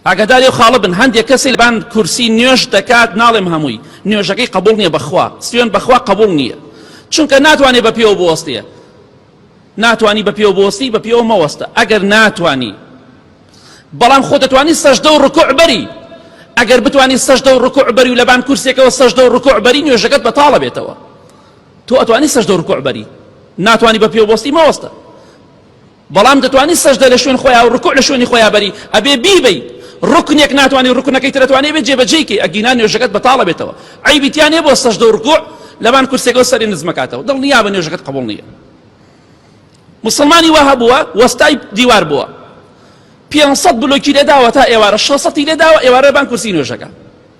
ئاگاداری ئەو خاڵە بن هەندێک کەسی لەبان کورسی نوێژ دەکات ناڵێم هەمووی نوێژەکەی قبوڵ نییە بەخوا سوێن بەخوا قبوڵ نییە چونکە ناتوانێت بە پێوە بوەستێ ناتانی بە پێوە بۆستی بە پێوە مەوەستە ئەگەر ناتانی بەڵام خۆ دەتوانی سەشدە و ڕکوع بەری ئەگەر بتانی سەشدە و ڕکوع بەری و لەبان کورسێکەوە سەشدە و ڕکوع بەری نوێژەکەت بەتاڵە بێتەوە تۆ ئەتوانی سەشدە و ڕکوع بەری ناتانی بە پێوە بۆستی مەوەستە بەڵام دەتوانی سەژدە لە شوێن خۆیا و ڕکوع لە شوێنی خۆیا بەری ئەبێ بیبەی ڕوکنێک ناتوانی ڕوکنەکەی تر ئەتوانی بێ جێبەجێی کەی ئەگینا نوێژەکەت بەتاڵە بێتەوە عەیبی تیا نیە بۆ سەژدە و ڕکوع لەبان کورسێکەوە سەری نزمەکاتەوە دڵنیا بە نوێژەکەت قبول نییە مسلمانی وا هەبووە وەستای دیوار بووە 500 بلۆکی لێداوە تا ئێوارە 600 لێداوە ئێوارە بان کورسی نوێژەکە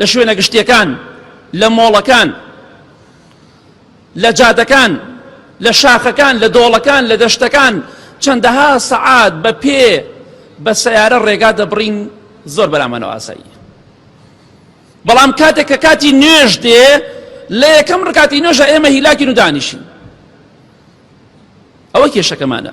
لە شوێنە گشتیەکان لە مۆڵەکان لە جادەکان لە شاخەکان لە دۆڵەکان لە دەشتەکان چەندەها سەعات بە پێ بە سیارە ڕێگا دەبڕین زۆر بەرامانەوە ئاسایی بەڵام کاتێک کە کاتی نوێژ دێ لە یەکەم ڕکاتی نوێژە ئێمە هیلاکین و دانیشین ئەوە کێشەکەمانە